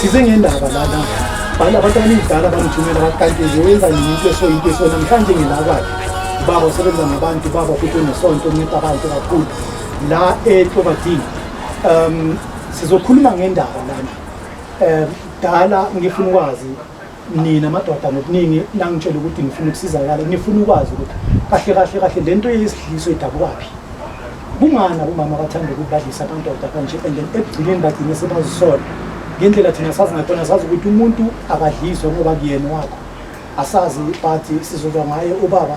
size ngendaba lana bhala abantu abaningidala bangithumela bathi kanti nje wenza nini into esoyinto eso namhlanje nginakwayo ubaba usebenza nabantu ubaba futhi unesonto unceda abantu kakhulu la etlobadini um sizokhuluma ngendaba lana um dala ngifuna ukwazi nina madoda ngokuningi nangitshela ukuthi ngifuna ukusizakala ngifuna ukwazi ukuthi kahle kahle kahle le nto yesidliso idabukaphi kungani abomama abathanda ukuthi badlise abandoda kanje and then ekugcineni bagcine sebazisola ngendlela thina sazi ngakhona sazi ukuthi umuntu akadliswe ngoba kuyena wakho asazi but sizozwa ngaye ubaba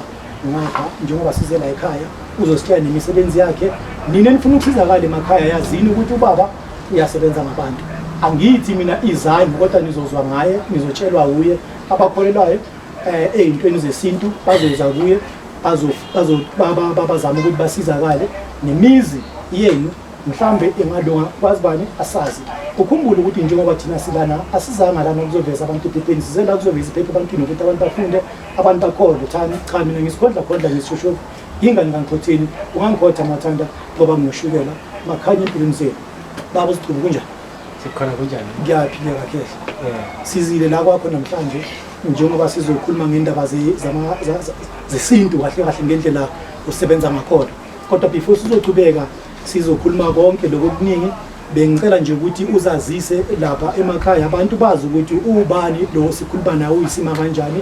ngapha njengoba size la ekhaya uzositshela nemisebenzi yakhe nina nifuna ukusizakala emakhaya yazini ukuthi ubaba uyasebenza ngabantu angithi mina izanyu kodwa nizozwa ngaye nizotshelwa wuye abakholelwayo eh ezintweni zesintu bazoza kuye bazo bazo bazama ukuthi basizakale nemizi yenu mhlambe engalunga kwazi bani asazi ukhumbule ukuthi njengoba thina silana asizanga lana ukuzoveza abantu ephepheni sizela ukuzoveza iphepha ebantwini ukuthi abantu bafunde abantu bakhole thani cha mina ngisigodla khodla ngisishoshovu Yingani ngangikhothini ungangikhotha mathanda ngoba nginoshukela makhanye empilweni zenu baba usichubu kunjani sikhona kunjani ngiyaphileka khehla sizile la kwakho namhlanje njengoba sizokhuluma ngendaba ze- zama- za- za- zesintu kahle kahle ngendlela usebenza ngakhona kodwa before sizochubeka sizokhuluma konke lokho okuningi bengicela nje ukuthi uzazise lapha emakhaya abantu bazi ukuthi ubani lo sikhuluma naye uyisima kanjani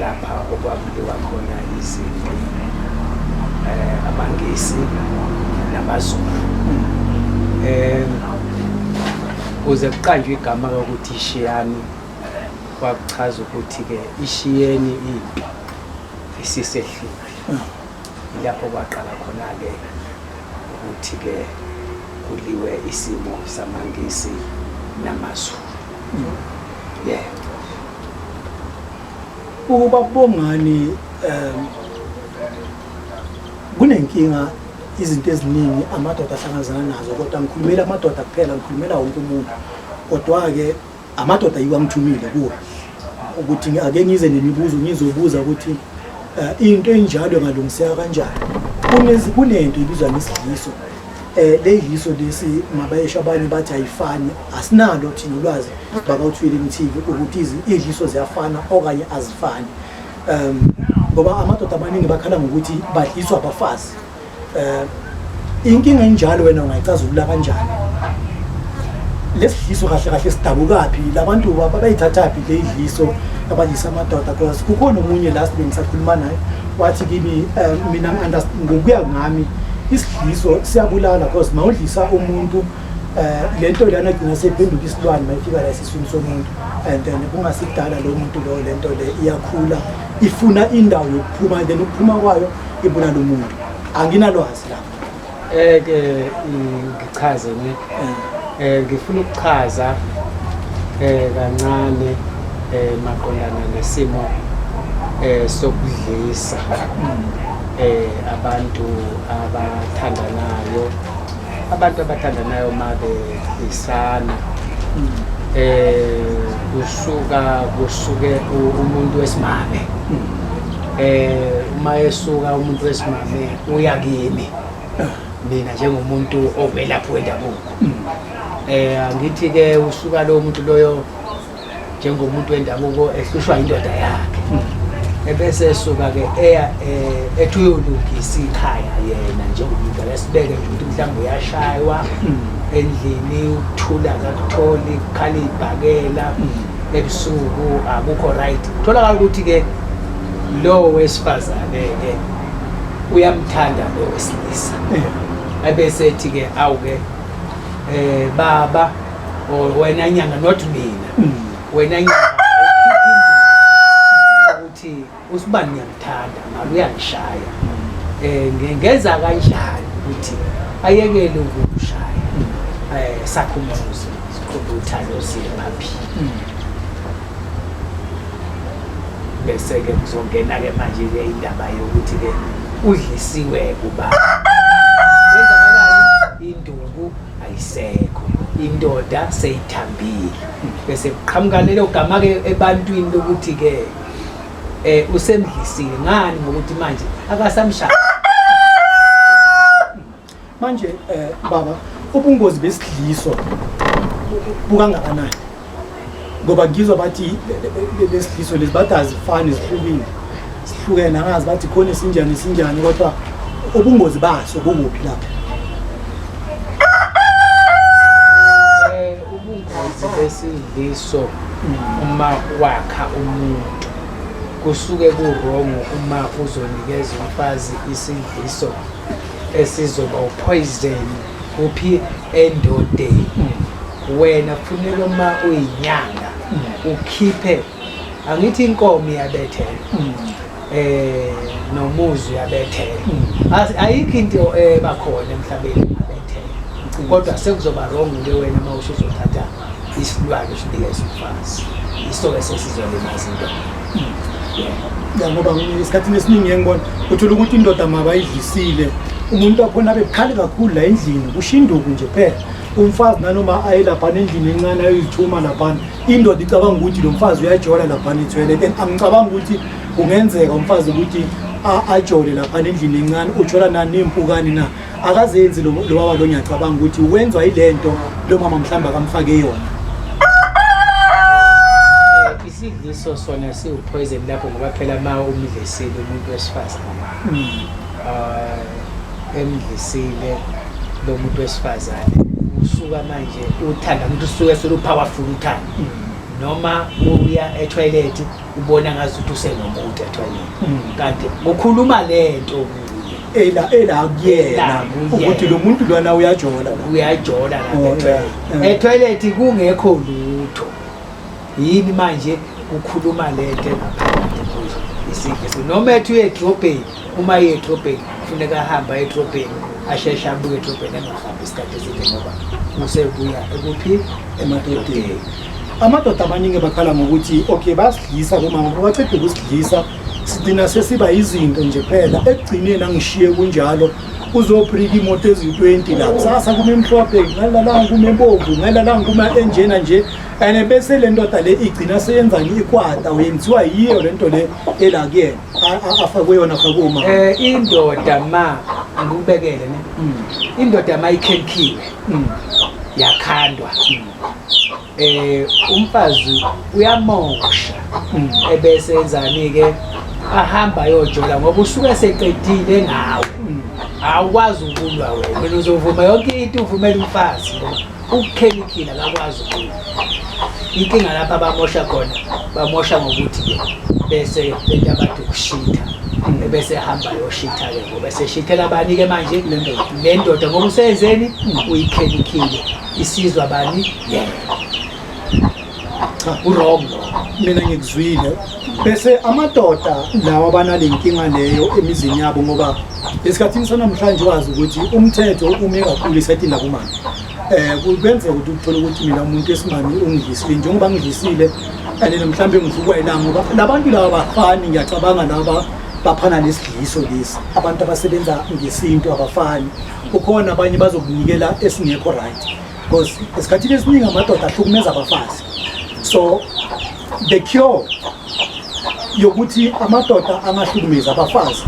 lapha okwakudliwa khona izinto eh abangisi nabazulu eh kuze kuqanjwe igama lokuthi ishiyani kwakuchaza ukuthi ke ishiyeni into isisehlile lapho kwaqala khona ke ukuthi ke kuliwe isimo samangisi namazulu Yeah. Uba bongani um kunenkinga izinto eziningi amadoda ahlangazana nazo kodwa ngikhulumela amadoda kuphela ngikhulumela wonke umuntu kodwa-ke amadoda yiwo angithumile kuwo ukuthi ake ngize nemibuzo ngizobuza ukuthi um into enjalo engalungiseka kanjani kunento ibizwa ngesidliso eh leyiso lesi mabayesho abanye bathi ayifani asinalo thina ulwazi bakawuthwile imthivi ukuthi izidliso ziyafana okanye azifani um ngoba amadoda amaningi bakhala ngokuthi badliswa abafazi um inkinga enjalo wena ungayicazulula kanjani lesidliso kahle kahle sidabukaphi labantu bayithathaphi le idliso abadlisa amadoda because kukhona omunye la sibengisakhuluma naye wathi kimi um mina ngokuya ngami yiso siyabulala because mawudlisa umuntu um le nto lana gcina seyiphenduka isilwane mayifika la esiswini somuntu and then kungasidala lo muntu lo le nto le iyakhula ifuna indawo yokuphuma then ukuphuma kwayo ibulala umuntu anginalwazi lapho um ke ngichaze Eh ngifuna ukuchaza eh kancane eh maqondana nesimo eh sokudlisa eh abantu abathandanayo abantu abathandanayo mabe isana eh kusuka kusuke umuntu wesimame eh uma esuka umuntu wesimame uya kimi mina njengomuntu owelaphi wendabuko um angithi ke usuka lowo muntu loyo njengomuntu wendabuko ehlushwa indoda yakhe ebese esuka ke eya eh, ethi uyolungisa ikhaya yena njengomuntu akasibeke nje ukuthi mhlawumbe uyashaywa hmm. endlini ukuthula kakutholi kukhala ibhakela hmm. ebusuku akukho right kutholakala ukuthi-ke lowo wesifazane-ke uyamthanda lo wesilisa abesethi ke awuke eh baba or wena nyanga not mina mm. wena nyanga ukuthi usibani ngiyamthanda ngalo uyangishaya eh ngenza kanjani ukuthi ayekele ukushaya mm. eh sakhumuzo siqhubutha lo siyaphila mm. bese-ke kuzongena-ke manje-ke indaba yokuthi-ke udlisiwe kuba wenzakalani induku ayisekho indoda seyithambile bese kuqhamuka lelo gama-ke ebantwini lokuthi-ke um usemdlisile ngani ngokuthi manje akasamshaya manje eh baba ubungozi besidliso bukangakanani ngoba ngizwa bathi lesidliso lezi bathi azifani zihlukile sihlukene angazi bathi khona isinjani isinjani kodwa ubungozi baso bukuphi lapha eh, ubungozi besidliso uma wakha umuntu kusuke kurongo uma uzonikeza umfazi isidliso esizoba upoison kuphi endodeni hmm. wena kufuneka uma uyinyanga hmm. ukhiphe angithi inkomo iyabethela hmm. eh nomuzi uyabethela ayikho into ebakhona eh, emhlabeni abethela kodwa sekuzoba wrong ke wena uma usuzothatha isilwane sinika isimfazi iso ke sesizolimaza indoda ya ngoba esikhathini esiningi engibona uthola ukuthi indoda mabayidlisile umuntu wakhona bebukhali kakhulu la endlini kushinduku nje phela umfazi nanoma aye laphana endlini encane ayoyithuma laphana indoda icabanga ukuthi lo mfazi uyajola laphana ithwele then angicabanga ukuthi kungenzeka umfazi ukuthi ajole laphana endlini encane ujola nani ney'mpukane na akazenzi lo lo baba lo ngiyacabanga ukuthi wenzwa ilento lo mama mhlawumbe akamfake yona isidliso sona siwupoison lapho ngoba phela ma umdlisile umuntu wesifazane um emdlisile lo muntu wesifazane usuka manje uthanda ukuthi usuke solupowerful uthanda noma uya etoilet ubona ngazuthi usenomuntu etoilet kanti ukhuluma lento kuye ela ela kuyena ukuthi lo muntu lwana uyajola uyajola lapha oh, etoilet kungekho lutho yini manje ukhuluma lento isifiso noma ethi uyedrobheni uma yedrobheni kufuneka ahambe ayedrobheni asheshe abuye edrobheni engahambi isikhathi eside ngoba usebuya ekuphi emadodeni amadoda amaningi bakhala ngokuthi okay bayasidlisa kumama baceda ukusidlisa sigcina sesiba yizinto nje phela ekugcineni angishiye kunjalo uzobrika imoto eziyi-20 la kusasa kumemhlophe ngalalanga kumebomvu ngalalanga kuma-enjena nje and bese le ndoda le igcina seyenzani ikwata uyenziwa yiyo le nto le ela kuyena afakwe yona afakwe uma um eh, indoda ma ngikubekele ne hmm. indoda ma ikhenkhiwe hmm. yakhandwa hmm. eh umfazi uyamoksha mm. ebese enzani ke ahamba ayojola ngoba usuke seqedile ngawo mm. awukwazi ukulwa wena wena uzovuma yonke into uvumela umfazi ukukhelikhila akakwazi ukulwa inkinga lapha abamosha khona bamosha ngokuthi ke bese lento abantu ukushitha mm. ebese hamba yoshitha ke ngoba eseshithela abani ke manje le ndoda ngoba usenzeni uyikhelikhile isizwa bani cha urong mina ngikuzwile bese amadoda lawa banale nkinga leyo emizini yabo ngoba esikhathini sanamhlanje wazi ukuthi umthetho ume kakhulu isayitini lakumama eh kubenzeka ukuthi uthole ukuthi mina umuntu esimami ungidlisile njengoba ngidlisile and mhlawumbe ngivukwa yilanga ngoba labantu laba bafani ngiyacabanga laba baphana nesidliso lesi abantu abasebenza ngesintu abafani kukhona abanye bazokunikela esingekho right because esikhathini esiningi amadoda ahlukumeza abafazi so the cure yokuthi amadoda angahlukumezi abafazi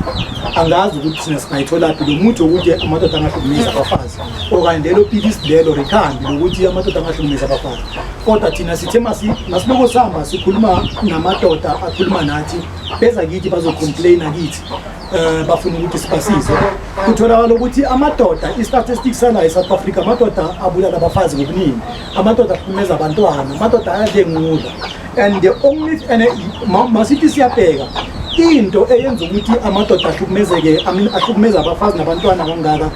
angazi ukuthi thina singayitholaphi lo muthi wokuthi amadoda angahlukumezi abafazi okanye lelo pilisi lelo rekhambi lokuthi amadoda angahlukumezi abafazi kodwa thina sithe masiloko sihamba sikhuluma namadoda akhuluma nathi beza kithi bazocomplaina kithi um bafuna ukuthi sibasize kutholakala ukuthi amadoda i-statistics sanayo e-south africa amadoda abulala abafazi ngokuningi amadoda aphumeza abantwana amadoda ayadengula and the only and masithi siyabheka into eyenza ukuthi amadoda ahlukumezeke ahlukumeza abafazi nabantwana kangaka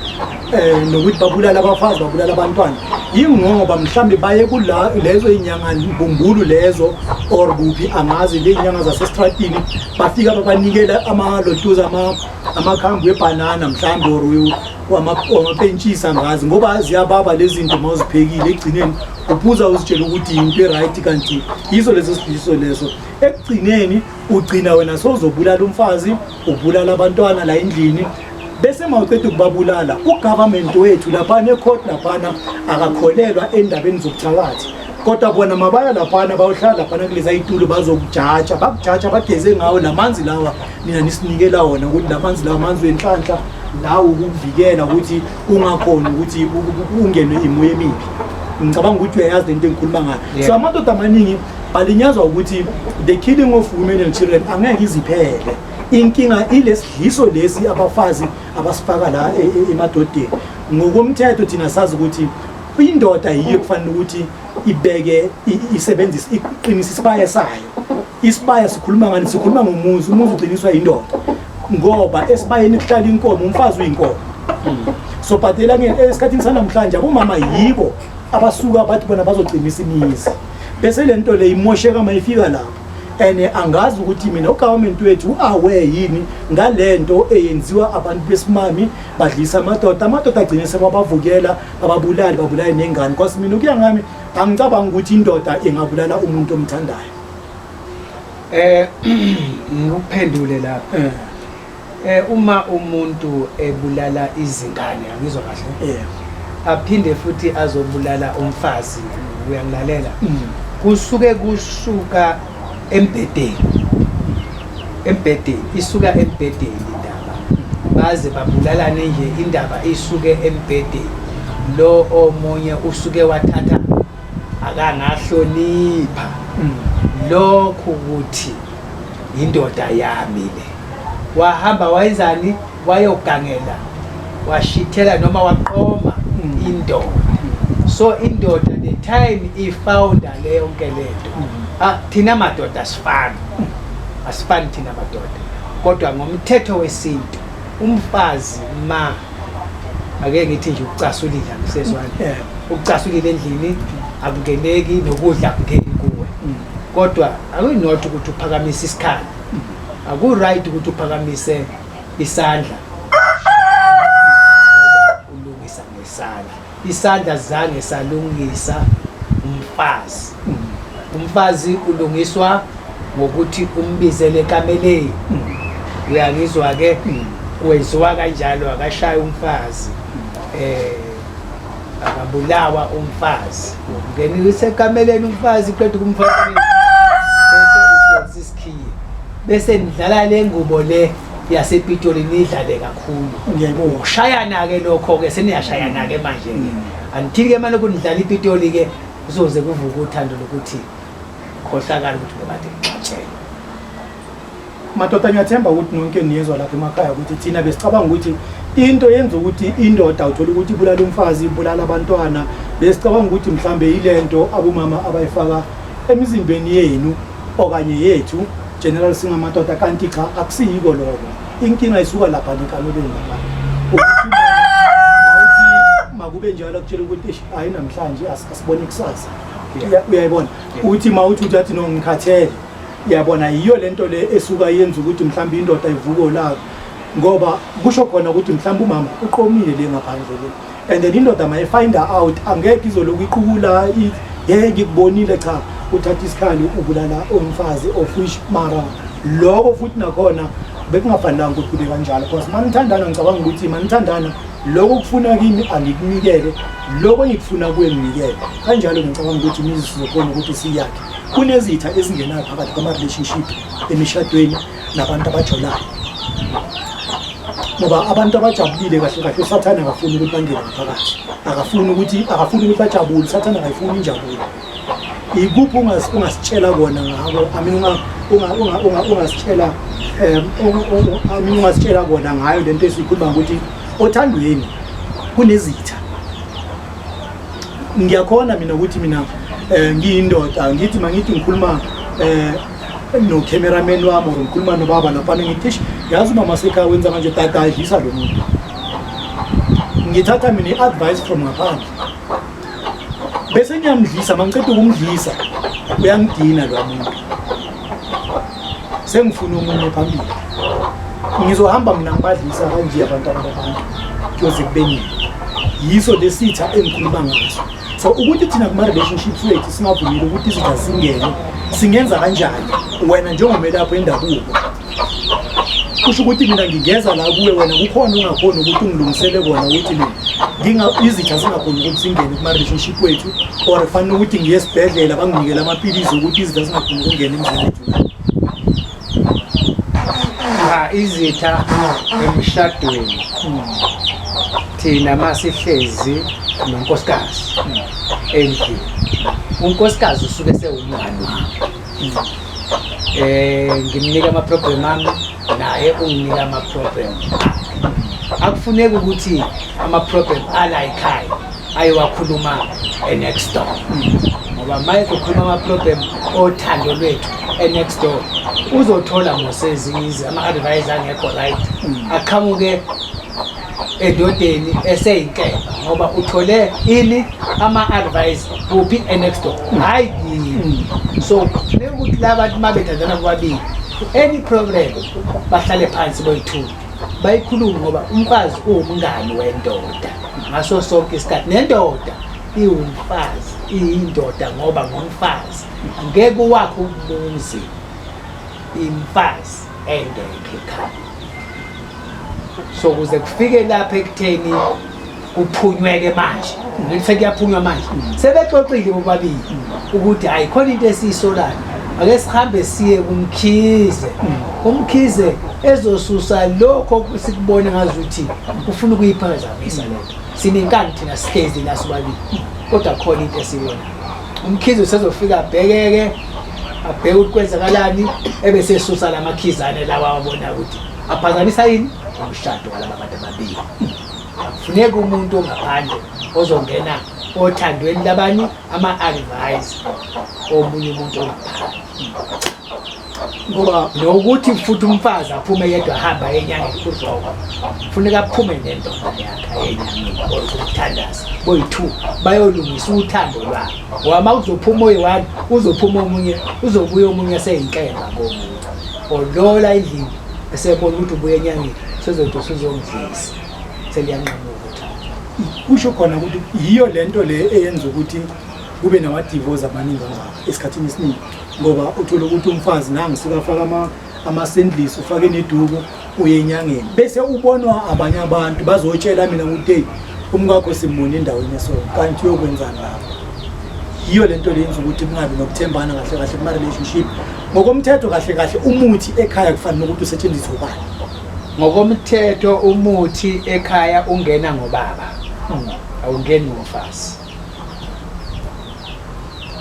um nokuthi babulala abafazi babulala abantwana yingoba mhlawumbe baye lezo iy'nyanga mbumbulu lezo or kuphi angazi ley'nyanga zasesitratini bafika babanikela amalotuza amakhambi webhanana mhlawumbe or wamapentshisa ngazi ngoba ziyababa lezi zinto uma uziphekile ekugcineni uphuza uzitshela ukuthi yinto e-right kanti yiso leso sidiso leso ekugcineni ugcina wena sowuzobulala umfazi ubulala abantwana la endlini bese mawuqeda ukubabulala ugovernment wethu laphana ecourt laphana akakholelwa endabeni zobuthakathi kodwa bona mabaya laphana bayohlala laphana kulezi ayitulo bazokujaja bakujaja bageze ngawo lamanzi lawa nina nisinikela wona ukuthi lamanzi lawa manzi wenhlanhla lawo ukuvikela ukuthi ungakhona ukuthi ungenwe imoya emibi ngicabanga ukuthi uyayazi lento engikhuluma ngayo so amadoda amaningi balinyazwa ukuthi the killing of women and children angeke iziphele inkinga ilesidliso lesi abafazi abasifaka la e, e, emadodeni ngokomthetho thina sazi ukuthi indoda yiyo kufanele ukuthi ibeke isebenzise iqinise isibaya sayo isibaya sikhuluma ngani sikhuluma ngomuzi umuzi uqiniswa indoda ngoba esibayeni kuhlala inkomo umfazi uyinkomo so but esikhathini sanamhlanje abomama yibo abasuka bathi bona bazoqinisa imizi bese le nto le imosheka mayifika lapho and angazi ukuthi mina ugovernment wethu u-aware yini ngale nto eyenziwa abantu besimami badlisa amadoda amadoda agcine sebabavukela bababulali babulale nengane because mina ukuya ngami angicabanga ukuthi indoda ingabulala umuntu omthandayo um ngikuphendule lapho eh. Eh uma umuntu ebulala izingane angizwa kahle. Yeah. Aphinde futhi azobulala umfazi uyangilalela. Mm. Kusuke kusuka embedeni. Embedeni isuka embedeni indaba. Baze babulalane nje indaba isuke embedeni. Lo omunye usuke wathatha akangahlonipha. Mm. Lokhu ukuthi indoda yami le. wahamba wayenzani wayogangela washithela noma waqoma mm. indoda mm. so indoda the time ifounda le yonke lento mm. ah, thina madoda asifani asifani thina madoda kodwa ngomthetho wesintu umfazi ma ake ngithi nje ukucasulile akusezwani ukucasulile endlini akungeneki nokudla akungeni kuwe kodwa akuyinotho ukuthi uphakamise isikhathi Akuright ukuthi uphakamise isandla. Ulungisa ngesandla. Isandla zange salungisa umfazi. Umfazi ulungiswa ngokuthi umbizele kameleni. Uyangizwa ke? Kwenziwa kanjalo akashaye umfazi. Eh akabulawa umfazi ngenile isekameleni umfazi qeda kumfazi bese udonsa isikhiye bese nidlala le ngubo le yasepitoli nidlale kakhulu ngiyayibongushayana-ke lokho-ke seniyashayana-ke manje-ke mm. anithini-ke mane kunidlala ipitoli-ke kuzoze kuvuke uthando lokuthi khohlakala ukuthi bebade ngixatshele madoda ngiyathemba ukuthi nonke niyezwa lapha emakhaya ukuthi thina besicabanga ukuthi into yenza ukuthi indoda uthole ukuthi ibulala umfazi ibulala abantwana besicabanga ukuthi mhlambe yilento abomama abayifaka emizimbeni yenu okanye yethu general singamadoda kanti cha akusiyiko lokho inkinga isuka lapha nekamelweni lapha makube njalo kutshela ukuthi hayi namhlanje asibone kusasa uyayibona ukuthi ma uthi uthi athi no ngikhathele yabona yiyo lento le esuka yenza ukuthi mhlawumbe indoda ivuke olaka ngoba kusho khona ukuthi mhlawumbe umama uqomile le ngaphandle le and then indoda ma ifind out angeke izoloku iqukula ye ngikubonile cha uthatha isikhali ubulala umfazi of which mara lokho futhi nakhona bekungafanelanga ukuthi kube kanjalo because uma nithandana ngicabanga ukuthi uma nithandana lokho kufuna kimi angikunikele lokho engikufuna kuwe nginikele kanjalo ngicabanga ukuthi imizi sizokhona ukuthi siyakhe Kunezitha ezingenayo phakathi kwama-relationship emishadweni nabantu abajolayo ngoba abantu abajabulile kahle kahle usathane akafuni ukuthi bangene ngaphakathi akafuni ukuthi akafuni ukuthi bajabule usathane akayifuni injabulo ikuphi ungasitshela kona ngako amin ungasitshela um ungasitshela kona ngayo le nto esiyikhuluma ngokuthi othandweni kunezitha ngiyakhona mina ukuthi mina um ngiyindoda ngithi mangithi ngikhuluma um nocameraman wami or ngikhuluma nobaba laphana ngithi ish yazi umama sekhaya wenza kanje tata adlisa lo muntu ngithatha mina i-advice from ngaphandle bese ngiyamdlisa mangiqeda ukumdlisa uyangidina lo muntu sengifuna omunye phambili ngizohamba mina ngibadlisa kanje abantwana babantu kuyoze kubeningi yiso lesitha engikhuluma ngaso so ukuthi thina kuma-relationships wethu singavumile ukuthi izitha zingene singenza kanjani wena njengomelapho endabuko kusho ukuthi mina ngingeza la kuwe wena kukhona ungakhona ukuthi ungilungisele kona ukuthi mina izitha zingakhona ukuthi zingene kuma-relationship wethu or kufanele ukuthi ngiye esibhedlela banginikele amaphilisi ukuthi izitha zingakhona ukungena emzini wethu cha izitha emshadweni thina masihlezi nonkosikazi endlini unkosikazi usuke sewumngani wakho eh ngimnika ama problem ami naye unginika ama problem akufuneki ukuthi ama problem ala ekhaya ayowakhuluma e next door ngoba maye kukhuluma ama problem othando lwethu e next door uzothola mosezi ama advice angekho right aqhamuke edodeni eseyinhlelo ngoba uthole ini ama-advice kuphi enext door hhayi kimi so kufuneka ukuthi la bantu uma bethandana bobabili any problem bahlale phansi boyi-two bayikhulume ngoba umfazi uwumngani wendoda ngaso sonke isikhathi nendoda iwumfazi iyindoda ngoba ngumfazi ngeke uwakhe umuzi imfazi ende ekhaya so kuze kufike lapha ekutheni kuphunyweke manje ngithe kuyaphunywa manje sebexoxile bobabili ukuthi hayi khona into esiyisolayo ake sihambe siye kumkhize umkhize ezosusa lokho sikubona ngazuthi ufuna ukuyiphazamisa lento sinenkani thina sihlezi la sobabili kodwa khona into esiyona umkhizi usezofika abhekeke abheke ukuthi kwenzakalani ebesesusa la makhizane lawa wabona ukuthi aphazamisa yini umshado walaba bantu ababili akufuneki umuntu ongaphandle ozongena othandweni labani ama-advise omunye umuntu ongaphandle ngoba nokuthi futhi umfazi aphume yedwa ahamba enyangeni kuzoko funeka aphume nendoda yakhe enyangeni or kumthandaza boyi-two bayolungisa uthando lwabo ngoba uma kuzophuma oyi-one uzophuma omunye uzobuya omunye seyinhleba komunye or lola endlini esebona ukuthi ubuya enyangeni sezothi usuzongidlisa seliyanqamuka kusho khona ukuthi yiyo lento le eyenza ukuthi kube nawadivozi abaningi kangaka esikhathini esiningi ngoba uthole ukuthi umfazi nangu sekafaka ama amasendlisi ufake neduku uye enyangeni bese ubonwa abanye abantu bazotshela mina ukuthi hey umkakho simbone endaweni so kanti uyokwenzani lapho yiyo lento lenza ukuthi kungabi nokuthembana kahle kahle kuma relationship ngokomthetho kahle kahle umuthi ekhaya kufanele ukuthi usetshenziswe ubani ngokomthetho umuthi ekhaya ungena ngobaba hmm. awungeni ngomfazi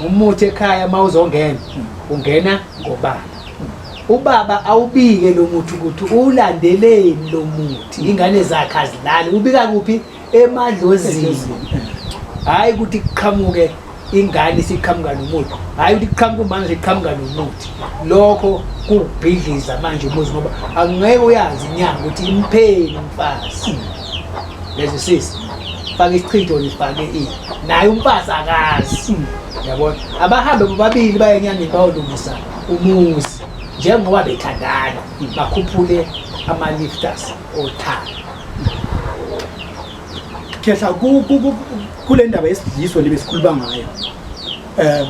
umuthi ekhaya uma uzongena ungena ngobaba ubaba awubike lo muthi ukuthi uwulandeleni lo muthi ingane zakhe azilali ubika kuphi emadlozini hhayi ukuthi kuqhamuke ingane isiqhamuka nomuthi hhayi ukuthi kuqhamuka umama siqhamuka nomuthi lokho kuwubhidliza manje umuzi ngoba angeke uyazi inyanga ukuthi impheni umfazi Lezi sisi faka isichitho nifake i. Naye umfazi akazi. Yabona? Abahambe bobabili baye enyangeni bayolungisa umuzi njengoba bethandana bakhuphule ama lifters othando. Khehla ku- ku- ku- kule ndaba yesidliso libe sikhuluma ngayo um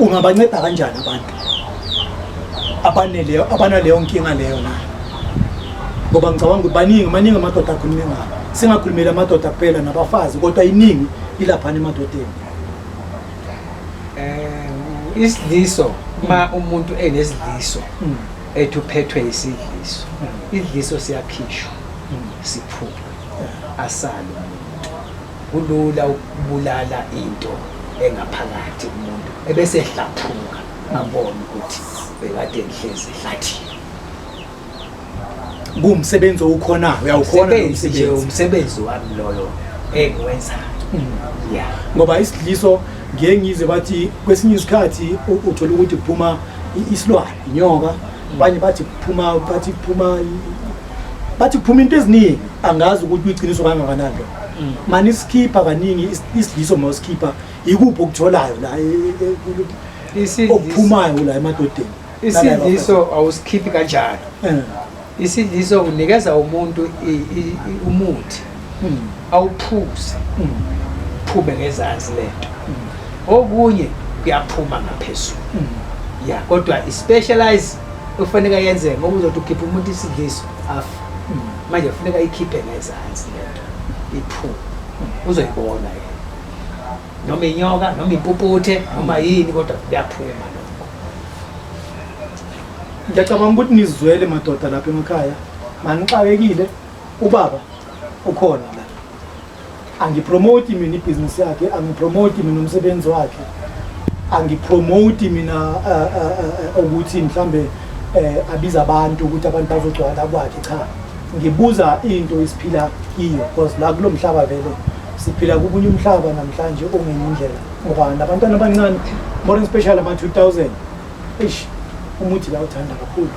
ungabanceda kanjani abantu abaneleyo abanaleyo nkinga leyo na ngoba ngicabanga ukuthi baningi maningi amadoda akhulume ngabo singakhulumeli amadoda kuphela nabafazi kodwa iningi ilaphana emadodeni um isidliso uma hmm. umuntu enesidliso hmm. ethi uphethwe isidliso hmm. idliso siyakhishwa siphume asale Kulula ukubulala into engaphakathi umuntu ebese ehlaphuka abone ukuthi bekade ngihlezi ehlathini. Kuwumsebenzi owukhona uyawukhona lo Umsebenzi nje msebenzi. umsebenzi wami loyo engiwenzayo. Yeah. ngoba isidliso ngiye ngizwe bathi kwesinye isikhathi u- uthola ukuthi kuphuma i- isilwane inyoka abanye bathi kuphuma bathi kuphuma i- bathi kuphuma into eziningi angazi ukuthi uyiqiniso kangakanani lo manisikipha kaningi isiliso mawusikipha yikuphi okutholayo la e- e- e- okuphumayo la emadodeni isidliso awusikhiphi kanjalo eh. isidliso unikeza umuntu umuthi hmm. awuphuze hmm. phume ngezansi lento hmm. okunye kuyaphuma ngaphezulu ya kodwa i-specialize okufanele yenzeke ngoba uzothi ukhipha umuntu isidliso afa manje kufuneka ikhiphe ngezansi lento iphume uzoyibona yena noma inyoka noma impuputhe noma yini kodwa kuyaphuma lokho ngiyacabanga ukuthi nizwele madoda lapha emakhaya manixakekile ubaba ukhona angipromote mina ibhizinisi yakhe angipromote mina umsebenzi wakhe angipromote mina eh, eh, eh, ukuthi mhlambe abiza abantu ukuthi abantu bazogcwala kwakhe cha ngibuza into esiphila kiyo because la kulo mhlaba vele siphila kubunye umhlaba namhlanje ongenye indlela ngoba nabantwana abancane more in special ama-2000 eish umuthi bayawuthanda kakhulu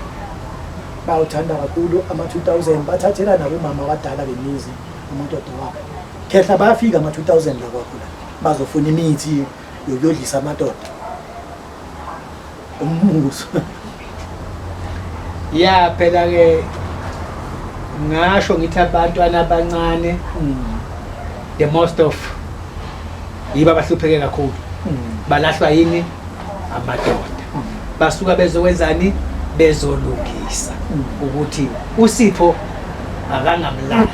bayawuthanda kakhulu ama-2000 bathathela nabomama abadala bemizi umuntu odewabo khehla bayafika ama-2000 la kwakho la bazofuna imithi yokuyodlisa amadoda umbuzo ya phela-ke ngasho ngithi abantwana abancane mm. the most of yiba bahlupheke kakhulu mm. balahlwa yini amadoda basuka bezokwenzani bezolungisa ukuthi usipho akangamlahli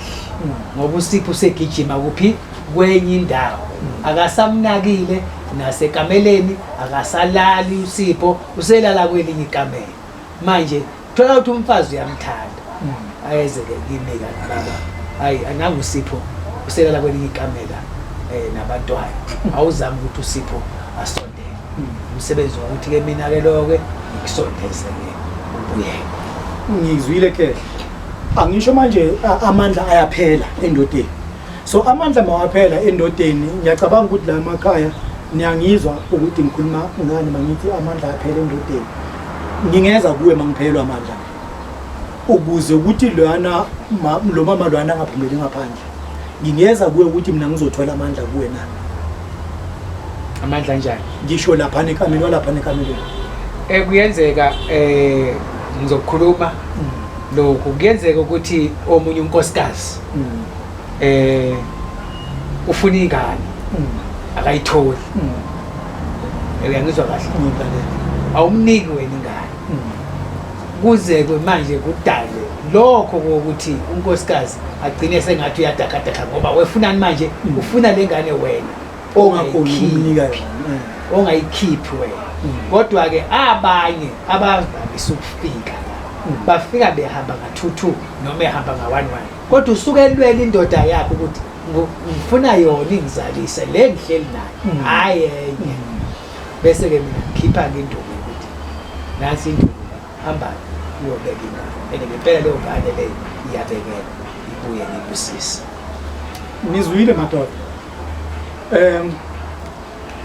ngoba usipho usegijima kuphi kwenye indawo akasamnakile nasekameleni akasalali usipho uselala kwelinye ikamelo manje thola ukuthi umfazi uyamthanda hmm. ayezeke kimi kanti baba hayi ananga usipho uselala kwelinye ikamela um nabantwana hmm. awuzami ukuthi usipho asondele hmm. umsebenzi wokuthi-ke mina-ke lo-ke ngikusondeze-ke ubuyeke ngizwile kehle angisho manje amandla ayaphela endodeni so amandla mawaphela endodeni ngiyacabanga ukuthi la makhaya niyangizwa ukuthi ngikhuluma ngani mangithi amandla aphela endodeni ngingeza kuwe mangiphelwa amandla ukuze ukuthi lwana lo mama lwana angaphumeli ngaphandle ngingeza kuwe ukuthi mina ngizothola amandla kuwe na amandla njani ngisho lapha nekamelo lapha nekamelo eh kuyenzeka eh ngizokhuluma mm. lokhu kuyenzeka ukuthi omunye unkosikazi eh ufuna ingane akayitholi uyangizwa kahle awumniki wena ingane kuze kwe manje kudale lokho kokuthi unkosikazi agcine sengathi uyadakadaka ngoba wefunani manje ufuna le ngane wena ongayikhiphi ongayikhiphi wena kodwa-ke abanye abavamisa ukufika bafika behamba ngathuthuka noma ehamba nga one one kodwa usuke elwela indoda yakhe ukuthi ngifuna yona ingizalise le ngihleli nayo mm. hayi enye mm. bese ke mina ngikhipha ke indoda ukuthi nasi indoda hamba uyobeka ingane and ngempela leyo ngane leyo iyabekela ibuye ngibusise ngizwile madoda um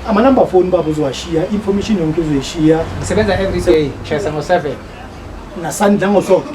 amanumber phone baba uzowashiya information yonke uzoyishiya ngisebenza every day ngishayisa ngo-seven nasandla ngosonto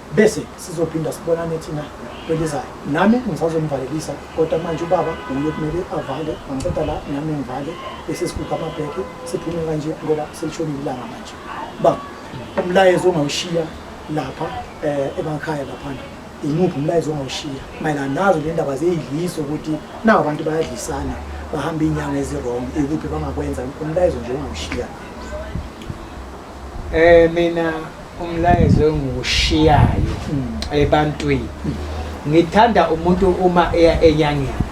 bese sizophinda sibonane thina kwelizayo nami ngisazomvalelisa kodwa manje ubaba uye kumele avale angiqeda la nami ngivale bese sikhupha amabheke siphume kanje ngoba selishonile ilanga manje ba umlayezo ongawushiya lapha um emakhaya laphana imuphi umlayezo ongawushiya mayelana nazo le ndaba ziyidlisa ukuthi nawo abantu bayadlisana bahamba iy'nyanga ezirong ikuphi bangakwenza umlayezo nje ongawushiya um mina umlayezo engiwushiyayo ebantwini ngithanda umuntu uma eya enyangeni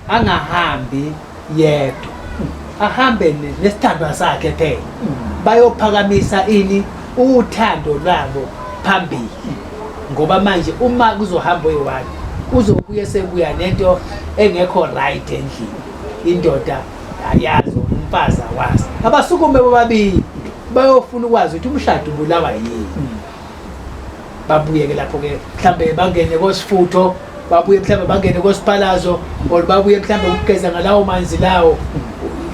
angahambi yedwa ahambe nesithandwa sakhe phela bayophakamisa ini uthando lwabo phambili ngoba manje uma kuzohamba oyi-one uzobuye sekuya nento engekho right endlini indoda Ayazi umfazi awazi. Abasukume bobabili bayofuna ukwazi ukuthi umshado ubulawa yini. Babuye-ke lapho-ke mhlawumbe bangene kosifutho babuye mhlawumbe bangene kosiphalazo or babuye mhlawumbe ukugeza ngalawo manzi lawo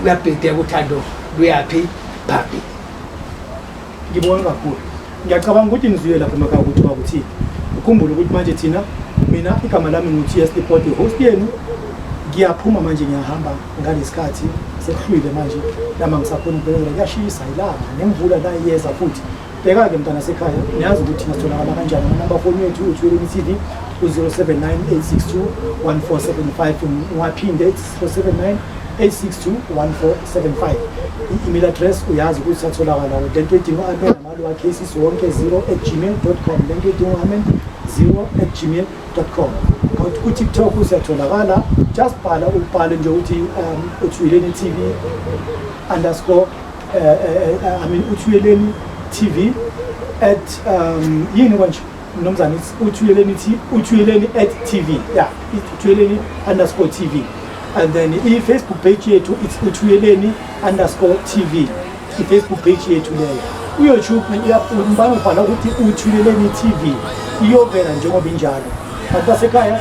uyabhideka uthando luyaphi phambili ngibonge kakhulu ngiyacabanga ukuthi nizwile lapho emakhaya ukuthi bakuthini ukhumbule ukuthi manje thina mina igama lami ngu-ts deport host yenu ngiyaphuma manje ngiyahamba ngalesikhathi sekuhlwile manje lama ngisakhona ukubekela kuyashisa ilanga nemvula la iyeza futhi bheka-ke mntana sekhaya niyazi ukuthi ngatholakala kanjani amanamba foni yethu uthweleni tv u-079 862 1475 ngiwaphinde 479 8621475 i-email address uyazi ukuthi satholakala lento edinga u-amen amalo wakhe isisi wonke 0 at gmail com lento edinga u-amen 0 at gmail com kodwa kutiktok usiyatholakala just bhala ubhale nje ukuthi um uthuyeleni tv underscore uh, uh, uh, i mean uthuyeleni tv at um yini kwanje mnumzane uthuyeleni uthuyeleni at tv ya uthuyeleni underscore tv and then i-facebook page yethu it's uthuyeleni underscore tv i-facebook page yethu leyo uyoutube umbana ubhala ukuthi uthuyeleni tv iyovela njengoba injalo abantu basekhaya